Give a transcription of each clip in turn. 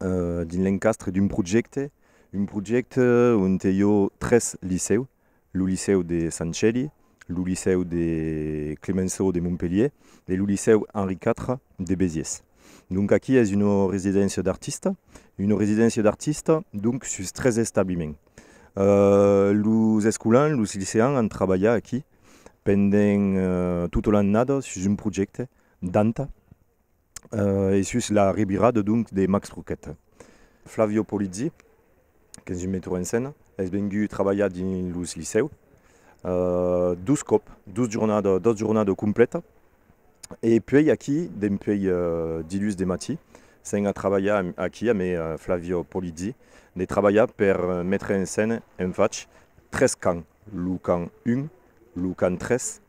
dins l'encastre d'un projècte, un projècte onte i ò tres licèu, lo licèu de Sant Cèli, lo licèu de Clemenceau de Montpelhièr e lo licèu Henri iv de Besiés. Donc aquí es una residéncia d'artista, una residéncia d'artista donc sus tres establiment. Los escolans, los liceans an trabalhat aquí pendent tota l'annada sus un projècte danta. e sus la revirada donc de Max Truquet. Flavio Polizzi, qu'es un meteur en scène, es vengut trabalhar dins los licèu dos còp, dos jornadas, dos jornadas complètas e puèi aquí dempuèi dilhus de matí s'en a trabalhar aquí amé Flavio Polizzi de trabalhar per metre en scène en fach tres cants, lo cant 1, lo cant 3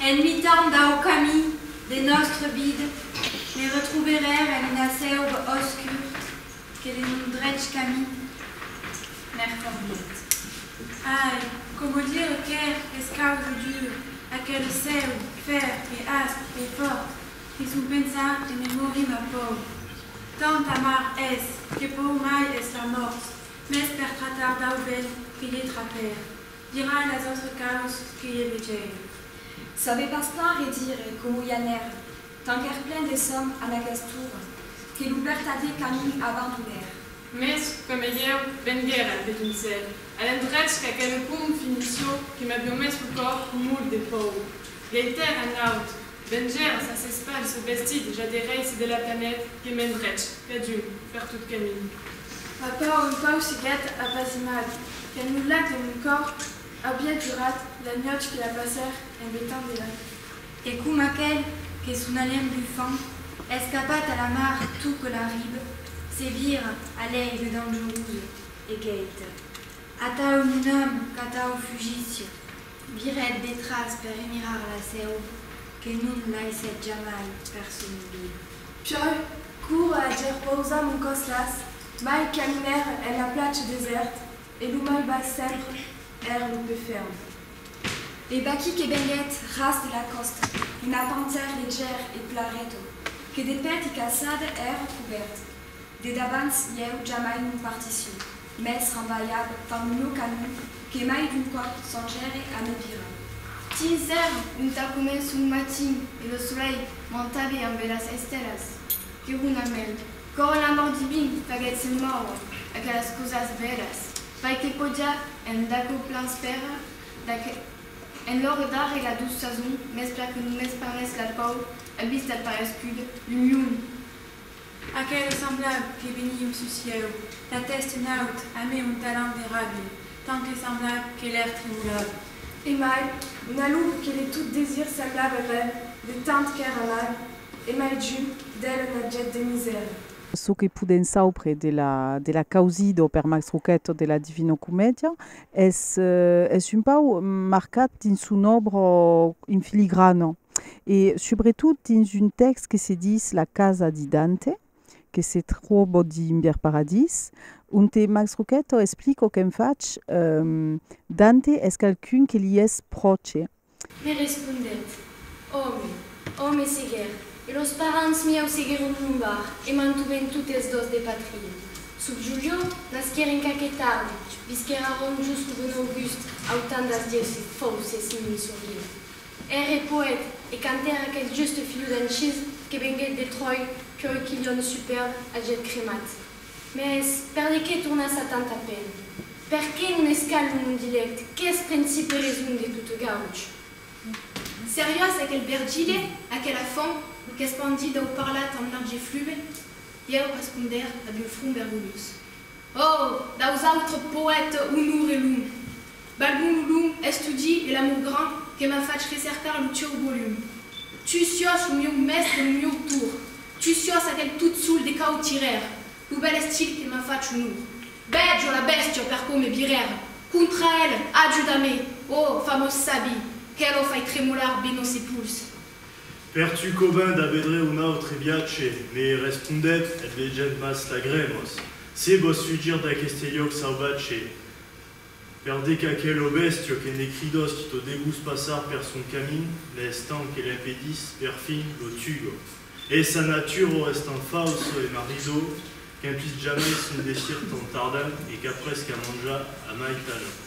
En mitan dau camin de nòstre vid me retroberèr en una sèub auscur que de mon drech camin m'èr conviat. Ai, coma dire qu'èr escau jo dur, aquele cèu fèr e asp e fòrt que son pensar e me morim a pòur. Tant amar es, que pòur mai es la mòrt, Mès per tratar dau ben que lhe traper, dirà a las autres caus que lhe vegèir. Save pas plan redire com oi anèr, tant qu'èr plen de sòm a n'aquest tour, que lo bertadier camin abandonèr. Mès que me ieu venguèr al Petonçèl, a l'endrech qu'aquele pont finissió que m'avió mès lo còr molt de pòur, gèitèr en aut, Venger sas espans o vestit ja de rei se delatanèt que m'en drech, cadun, per tot camin. Ma paur un pauc siguèt apasimat qu'en lo lac de mon còr aviá durat la nuòch que la passèr en vetant de la fi. E com aquel que son alèm bufant, escapat a la mar tot que la ribe, se vira a l'aigue dangerosa e queita, Atau mon ame, qu'atau fugíssi! Virèt detràs per remirar la seu que non laissèt jamai persun viu. Piòl, cour a dire pausa mon còs las, mai caminèr en la platja desèrt e lo mai bas sempre èr lo pè ferm. E vaquí que venguèt ras de la còsta una pantèr de gèr e plareto que de pèti caçada èr cubèrt. De dabans ieu jamai non partissiu. Mès rabalhat par lo canon que mai d'un còp s'engère a me virar. Tins cèrn onta començo un matin e lo solelh m'entabe amb bèlas estèlas. Que runa mèl, còr l'amor divin faguèt se mòure aquelas causas bèlas, fai que podiá en d'aquò plan spèra d'aqu en l'òre darre la douç sason mès per que non m'esparnèss la paur a vista parescuda d'un lion. Aquel semblab que venie au sucieu, la tèst en aut, amé un talent de ràbia, tant que semblab que l'air tremolava. E mai, una luvr que de tot desir semblab er rèn, de tant qu'èr amab, e mai ju, d'el un abjèct de misèra. Çò que podèm saupre de la de la Causido per Max Roquette de la Divino Comedia es es un pauc marcat dins son òbra en filigrana. e subretot dins un tèxt que se ditz La casa di Dante, que se tròbo dins Bièr Paradís, onte Max Rocchetto explico qu'en fach Dante es qualqu'un que li es pròche. Me respondèt, Òme, òme seguèr, e los parents mieu seguèron mon bar e mantuvèn totes dos de patria. Sub Julio, nasquèr en qu'aqueth arbre, visquèr a Rom just lo bon August, autandas dieus e fauces mimi sorguèt. Ère poet e cantaire aqueth juste filho d'Anchís que venguec de Tròi pioi qu'ilhòm superb agièt cremat. Mès per de qué tornar ça tant a pen? Per qué non es cal lo mon dilèct qu'es principe reson de tot gauch? Seriós aquel Vergile, aquela font qu'espandit dau parlat amb large flume? Ieu respondère ab un front vergonhós. Ò, daus autres poètes Onor e Lum, balgun lo long estudi e l'amor gran que m'a fach recercar lo tieu volum. Tu siòs lo mieu mèstre e lo mieu tour, tu siòs aquel tot sol de cautirer, lo bèl estil que m'a fach onor. Vèjo la bèstia per coma virer contra el, ajuda-me, ò famós sabi, que lo fai tremolar be nos epuls. Per tu covin da vedre un autre viatge, me respondèt, en vegent mas lagremos, se vos fugir d'aqueste lloc sauvatge, per de qu'aquelo bèstio que ne cridost to debús passar per son camin, ne estant que l'empedís, perfin, lo tugo. E sa natura o estant falso e maridor, qu'en puís jamai son desir tant tardent e qu'après qu'a manjar, amai talent.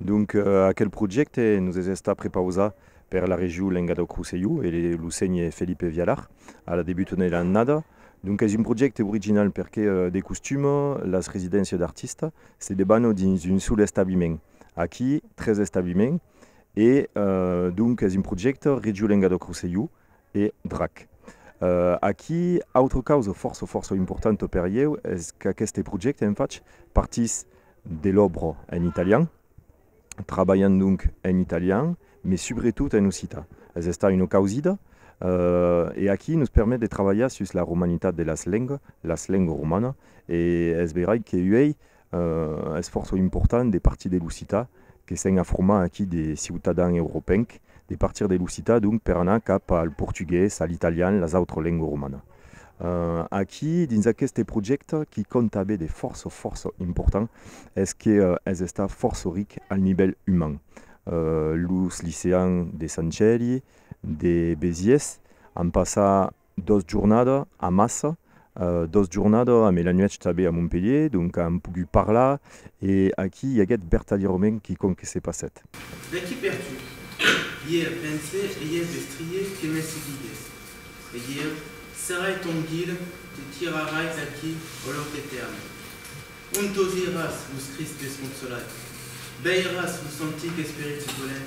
Donc, aquel projècte nos es estat prepausat per la Regiu Lenga dau Crosselhó e lo Sénher Felipe Vialar a la debuta de l'annada. Donc, es un projècte original perque, de costum, las residéncias d'artista se debanò dins un sol establiment. Aquí, tres establiments e, donc, es un projècte Regiu Lenga dau Crosselhó, E Drac. Aquí, autre causa fòrça fòrça importanta per ieu es qu'aqueste projècte en fach partís de l'òbra en italian, trabalhant donc en italian, mes subretot en occitan. Es estat una causida e aquí nos permet de trabalhar sus la romanitat de las lengas, las lengas romanas, e es veirai que uèi Un esfòrç important de partir de Lusità, que s'en a format aquí de ciutadan europenc, de partir de Lusità donc per anar cap al portugués, a l'italian, las autres lengues romanas. Aquí, dins aqueste projècte, qui còmpte a be de fòrça, fòrça important, es que es estat fòrça ric al nivèl uman. Los liceans de Sant Gèli, de Besiés, an passat Dos jornada a Massa, dos jornada amé la nuèch tabé a Montpelhier, donc an pogut parlar e aquí i aguèt bertalierament quicòm que se passèt. D'aquí per tu. Ièr pense e ièr vestrie que me seguigues. E ièr serai ton guide te tirarais aquí au lòc etèrne. On t'audiràs los cristes consolats, veiràs los antics esperits volènt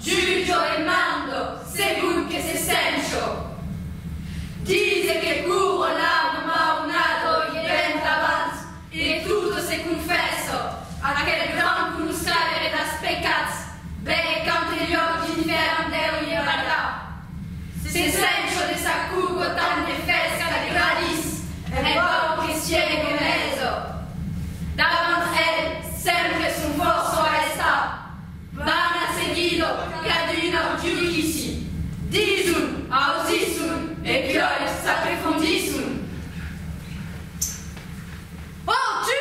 Giulio e mando, segon que se sent jo. Dise que puro l'amu mau nato e ben davant de totes se confesso, aquel gran conoscaire das pecats, bèth qu'ante lloc d'infèrn deu ieragar. Se sent jo de sa cuco tant de fresca de gradis, en vau que siègue meso. Davant el, sempre son fòrça a estar, Bana seguidor caduna au judici, dison, ausisson e puòi s'aprefondisson. Ò, tu!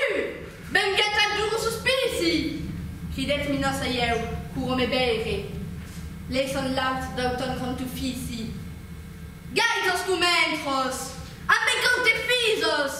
Venguèt al duru sospici! cridèt Minos Saieu, courant me veire. Lei son l'aut dau ton contufici. Gai tos comentros! Ambe cau te fisos!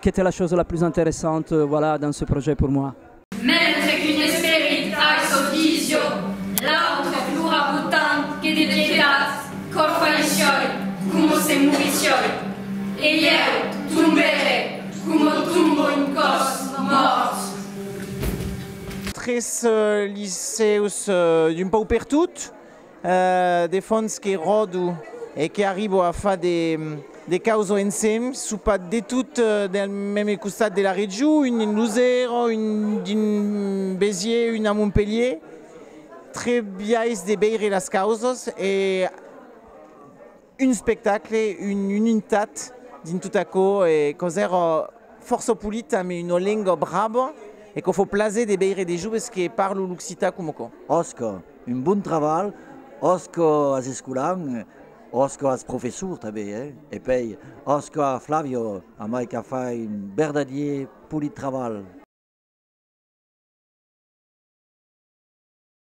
Qu'était la chose la plus interessante, voilà, dans ce projet pour moi. Mentre qu'un esperit ai çò vision, l'autre plora botant que de pietat, cor faiscioi, coma se morissioi. E ieu tombère, coma tomba un còs mòrt. Tres liceus d'un paupertot. De fons que ròdo e que arribo a far de causo ensem, sò pas de tot del meme costat de la region, un en Luzèrò, un dins Béziers, un a Montpelhier, tre biais de veire las causas e. un espectacle, una unitat dins tot aquò e quau's èra fòrça polit amb una lenga brava e quau fau plaser de veire de joves que parlon l'occitan coma quò. Òsca, un bon trabalh, òsca as escolans, òsca as professors tanben eh e pei òsca a Flavio a mai qu'a fai un verdadier polit trabalh.